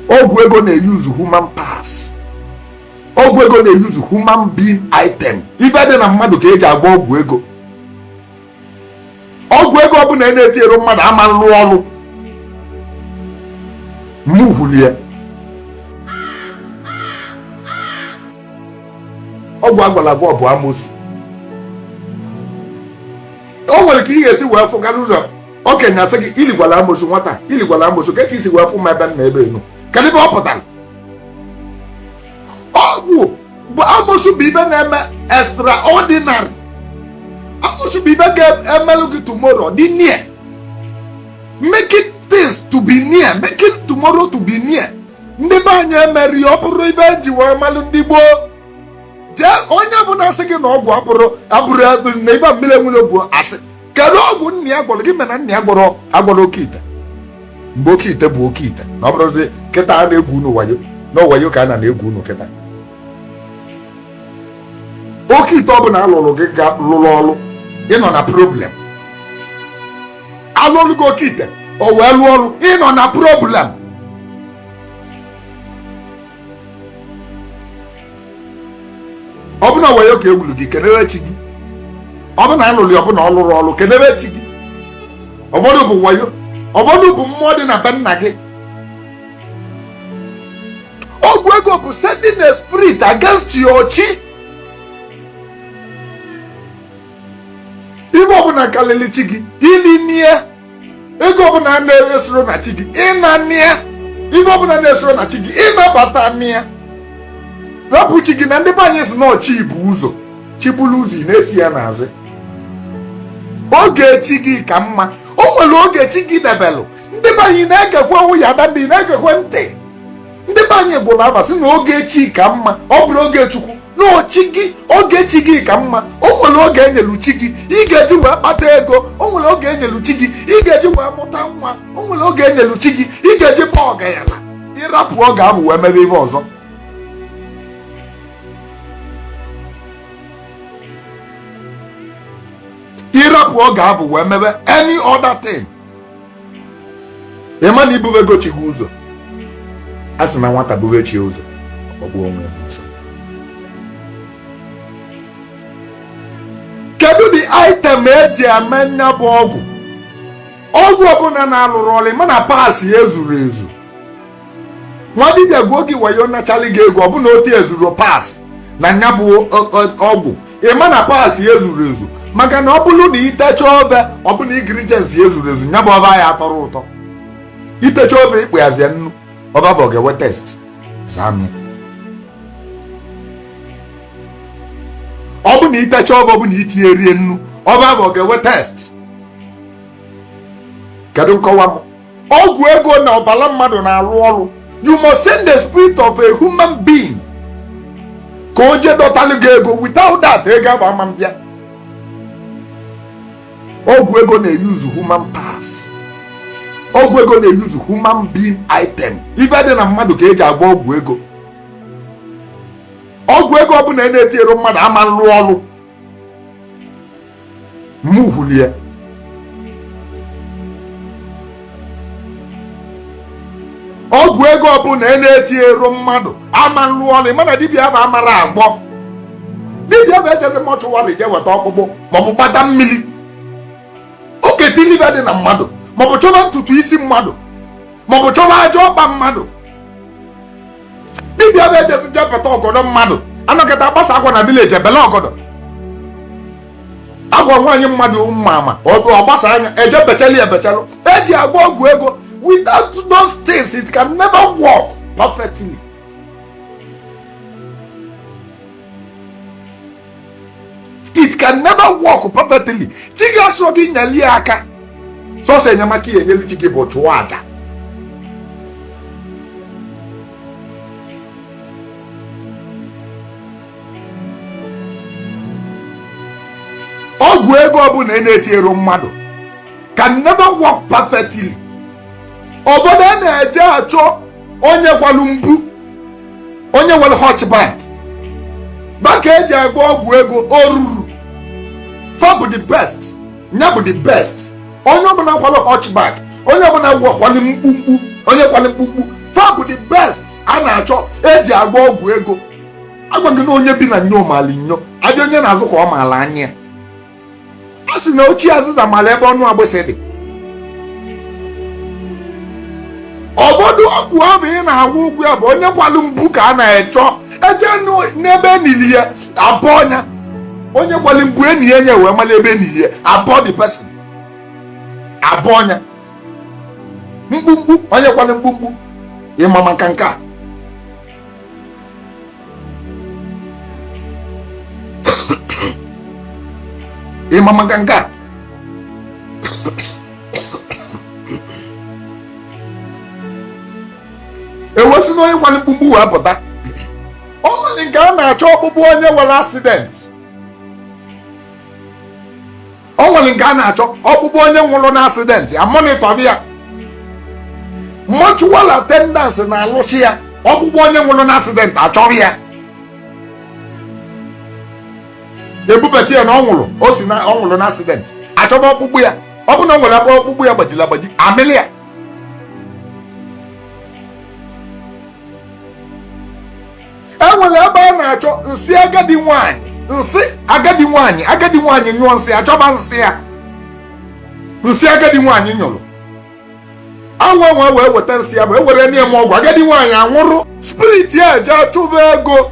ọgwụ ego na-use human parts ọgwụ ego na-use human being item ife dị na mmadụ ka eji agwọ ọgwụ ego ọgwụ ego ọbụla a na-etinyerọ mmadụ ama alụ ọlụ mụvulie ọgwụ agwọlụ agwọ ọ bụ amosu o nwere ka ị ga-esi wee fụ gara ụzọ okenye asị gị iligwala amosu nwata iligwala amosu kee ka isi wee fụ ma ebe nna ebe enu kedu ife ọ pụtara ọgwụ bụ amosu bụ ife na-eme extraordinary amosu bụ ife ga-emelụ gị tomorrow dị near making things to be near making tomorrow to be near ndị be anyị emeri ọ bụrụ ife eji wee malụ ndị gboo onye ọbụna sị gị na ọgwụ abụrụ abụrụ na ibe mmiri enwere bụ asị kedu ọgwụ nna ya gwọrọ gịnị mere na nna ya agwọrọ oke ite mgbe oke ite bụ oke ite na ọ bụrọzi kịta a na-egwu unu wayo na wayo ka a na-egwu unu kịta oke ite ọ bụla alụrụ gị ga lụrụ ọrụ ịnọ na problem alụrụ gị oke ite o wee lụọ ọrụ ịnọ na problem ọ bụ na wayo ka egwuru gị kenere chi gị ọ bụ na alụlụ ọ bụ na ọ lụrọ ọrụ kenere chi gị ụfọdụ bụ wayo ụfọdụ bụ mmụọ dị na be nna gị ọgwụ ego bụ sending a spirit against your chi ife ọbụla karịrị chi gị ilina ya ego ọbụla na-esorọ na chi gị ịnana ya ife ọbụla na-esorọ na chi gị ịnabatana ya rapụ chi gị na ndị be anyị si na ọ chi bu ụzọ chi buru ụzọ ị na-eso ya n'azụ oge chi gị ka mma o nwere oge chi gị debelụ ndị be anyị na-egekwe ụya na ndị na-egekwe ntị ndị be anyị gụlụ afa sị na oge chi ka mma ọ bụrọ oge chukwu na ọ chi gị oge chi gị ka mma o nwere oge enyelu chi gị ị ga-eji wee kpata ego o nwere oge enyelu chi gị ị ga-eji wee mụta nwa o nwere oge enyelu chi gị ị ga-eji baa ọgalanya ịrapụ oge ahụ wee mebe ihe ọzọ ịrapụ oge ahụ wee mebe any other thing ịma na ibubego chi gị ụzọ a sị na nwata bube chi ya ụzọ o gbuo onwe ya n'ọsọ kedu the item eji eme nya bụ ọgwụ ọgwụ ọbụla na-alụrọ ọlụ ma na parts ya ezurọ ezu nwa dibịa gwuo gị wayo nachalị gị ego ọ bụ na o tiezuro parts na nya bụ ọgwụ ịma na parts ya ezuro ezu maka na ọ bụrụ na itecha ofe ọ bụ na ingredients ya ezuro ezu nya bụ ofe ya atọrọ ụtọ itecha ofe ikpe yazie nnu ofe afụ ga-enwe taste za m ọ bụ na itecha ofe ọ bụ na itinyero ya nnu ofe afụ ga-enwe taste kedu nkọwa m ọgwụ ego na ọbara mmadụ na-arụ ọrụ you must send the spirit of a human being ka o jee dọtalụ gị ego without that ego afụ ama mbịa ọgwụ ego na-use human parts ọgwụ ego na-use human being item ife dị na mmadụ ka eji agba ọgwụ ego ọgwụ ego ọbụna ị na-etinyero mmadụ ama nrụ ọrụ move ya ọgwụ ego ọbụna ị na-etiero mmadụ ama nlụ ọlụ mana dibịa afụ mara agwọ dibịa afụ ejezi mortuary je weta ọkpụkpụ maọbụ gbata mmiri oke tili ife dị na mmadụ maọbụ chọba ntutu isi mmadụ maọbụ chọba aja ọkpa mmadụ dibịa afụ ejezi jee beta ọgọdọ mmadụ anọkata agbasa akwa na village ebele ọgọdọ akwa nwaanyị mmadụ mma ama ọ gbasaa ya eje bechali ebechalụ eji agba ọgwụ ego without those things it can never work perfectly it can never work perfectly chi gị asịrọ gị nyeli ya aka sọsọ enyemaka ị ya-enyelu chi gị bụ chụọ aja ọgwụ ego ọbụna ị na-etinyero mmadụ can never work perfectly obodo a na-eje achọ onye kwalụ mkpu onye nwere hunchback fa ka eji agba ọgwụ ego oruru fa bụ the best nya bụ the best onye ọbụla kwalụ hunchback onye ọbụla kwalụ mkpumkpu onye kwalụ mkpumkpu fa bụ the best a na-achọ eji agba ọgwụ ego agwa gị na onye bi na nyo maali nyo afịa onye na-azụ ka ọ maala anya ya a sị na ochie azịza mara ebe ọnụ agbịsị dị ọbọdụ ọgwụ ahụ ị na-agwọ ụgwọ ya bụ onye kwalụ mkpu ka a na-achọ eje nụ- n'ebe enili ya abọọ nya onye kwalụ mkpu enie ya nye wee mara ebe enili ya abọọ the person abọọ nya mkpumkpu onye kwalụ mkpumkpu ịma maka nke a ịma maka nke a ewesị na onye kwara mkpumkpu wee pụta ọ nwere nke a na-achọ ọkpụkpụ onye nwere accident o nwere nke a na-achọ ọkpụkpụ onye nwụrụ na accident a monitor ya mortuary attendants na-alụsị ya ọkpụkpụ onye nwụrụ na accident a chọrọ ya ebubata ya na ọ nwụrụ o si na ọ nwụrụ na accident achọba ọkpụkpụ ya ọ bụ na ọ nwere ebe ọkpụkpụ ya gbajiri agbaji amịlị ya e nwere ebe a na-achọ nsị agadi nwanyị nsị agadi nwanyị agadi nwanyị nyụọ nsị achọba nsị ya nsị agadi nwanyị nyụrụ anwa nwa wee weta nsị ya bụ e werenụ ya mee ọgwụ agadi nwanyị anwụrụ spirit ya eje achụba ego